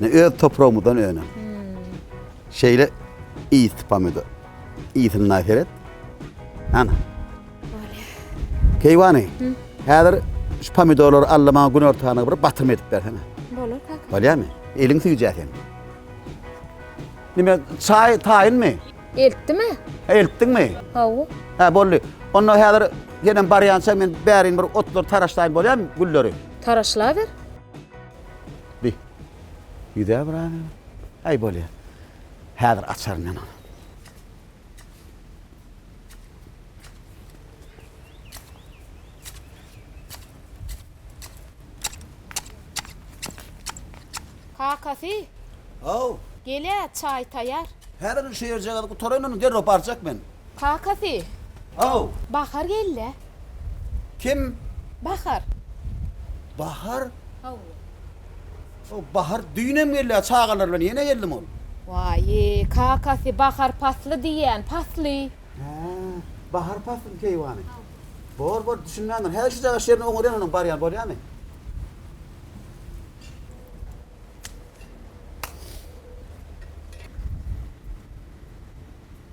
Ne öz topragymyzdan önen. Şeýle iýit pomidor. Iýitini naý seret. Ana. Keýwany. Häzir şu pomidorlary alla maňa gün ortana bir batyrma edip bersene. Bolar kaka. Bolýarmy? Eliň süýjä sen. Nime çaý taýynmy? Eltdimi? Eltdiňmi? Hawa. Ha boldy. Onda häzir senem barýança men bärin bir otlar taraşlaýyn bolýarmy gülleri? Taraşlaber. Bi. Ýüze bir az. Aý bolýar. Häzir açaryn men ony. Kakasy. Haw. Gel-ä, çaý taýar. Häzir şu ýerjagazy gutaraýyn, ony derrew barjak men. Kakasy. How. Bahar geldi. Kim? Bahar. Bahar? How. O Bahar düýnem geldi-ä çagalar bilen ýene geldim ol. Waýy, kakasy, bahar pasly diýýän, pasly. Hä, bahar paslymy keýwany? How. Bor, bor, düşünmändir. Hä, şujagaz şerini oňarýan onuň barýany bolýamy?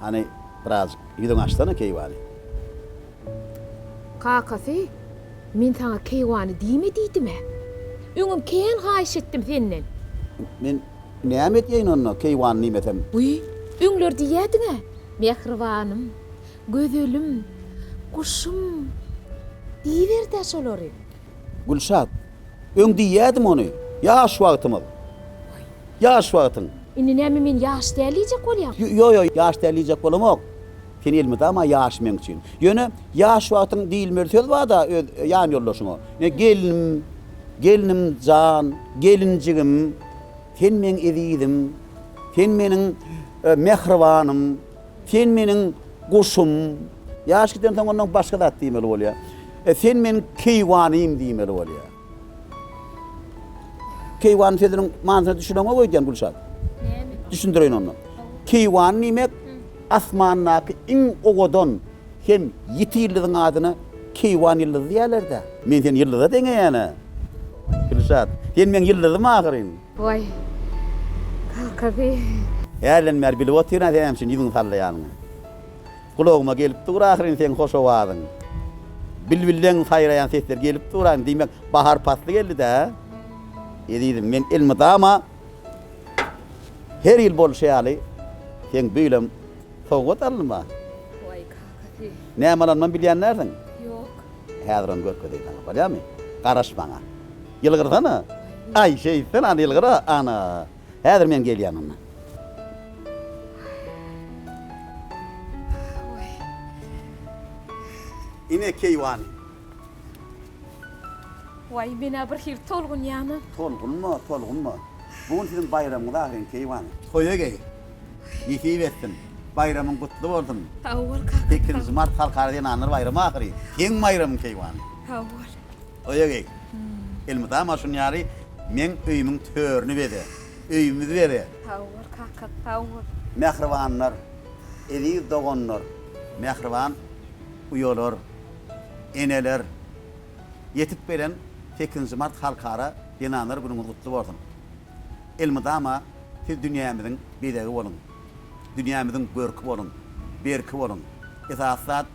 Hany, birazjyk ýüzüňi açsana, keýwany! Kakasy, Men saňa keýwany diýme diýdim-ä. Öňem kän haýyş etdim senden. Men näme edýäýin onda, keýwany diýmesem? Guý, öňler diýýädiň-ä, Mähribanym, gözelim, guşum diýiber-dä şolary. Gülşat, Öň diýýädim ony, ýaş wagtymyz. Ýaş wagtyň. Indi näme men ýaş däl diýjek bolýaň? Ýo-ýo, ýaş däl diýjek bolamok. Sen elmydama ýaş meň üçin. Ýöne ýaş wagtyň diýilmeli söz bar-da öz ýan ýoldaşyňa. Ine gelnim, gelnim jan, gelinjigim, sen meň ezizim, sen meniň mähribanym. Sen meniň guşum. Ýaş gidensoň ondan başga zat diýmeli bolýar. E, sen meniň keýwanym diýmeli bolýar. Keýwan sözüniň manysyna düşüneňok öýdýän Gülşat. Näme? Düşündireýin onda. Keýwan diýmek asmandaky iň owadan hem ýiti ýyldyzyň adyna keýwan ýyldyzy diýýärler-dä. Men seni ýyldyza deňeýän-ä, Gülşat. Sen meň ýyldyzym ahyryn. Waý, kakasy. Hälden bäri bilip otyryn-a sen nämüçin ýüzüňi sallaýanyňy. Gulagyma gelip dur ahyryn seň hoş owazyň. Bilbilleň saýraýan sesleri gelip dur-a, diýmek, bahar pasly geldi-dä. Ezizim, men elmydama her ýyl bolşy ýaly seň beýlem sowgat alynma. Näme alanymam bilýän dälsiň? Ýok. Häzir ony görkezeýin saňa, bolýamy? Garaş maňa. Ýylgyrsana. Aý, şeýtsen, ana, ýylgyr-a, ana. Häzir men gelýän onda. Ine, keýwany. Waý, men-ä bir hili tolgunýan-a. Tolgunma, tolgunma. Bu gün siziň baýramyňyz ahyryn, keýwany. Toýa geý. Nesip etsin. Baýramyň gutly bolsun. Sag bol, kaka. Sekizinji mart Halkara zenanlar baýramy ahyry. Seň baýramyň keýwany. Sag bol. Toýa geý. Elmydama maňa şuny ýary, meň öýümiň törüni beze. Öýümizi beze. Sag bol, kaka. Sag bol. Mähribanlar, eziz doganlar. Mähriban Uýalar, eneler, ýetip gelen sekizinji mart Halkara zenanlar günüňiz gutly bolsun! Elmydama siz dünýämiziň bezegi boluň, dünýämiziň görki boluň, berki boluň, esasy zat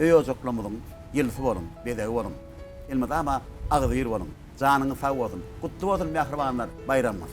öý-ojaklarymyzyň ýyldysy boluň, bezegi boluň! Elmydama agzybir boluň! Janyňyz sag bolsun! Gutly bolsun mähribanlar, baýramyňyz!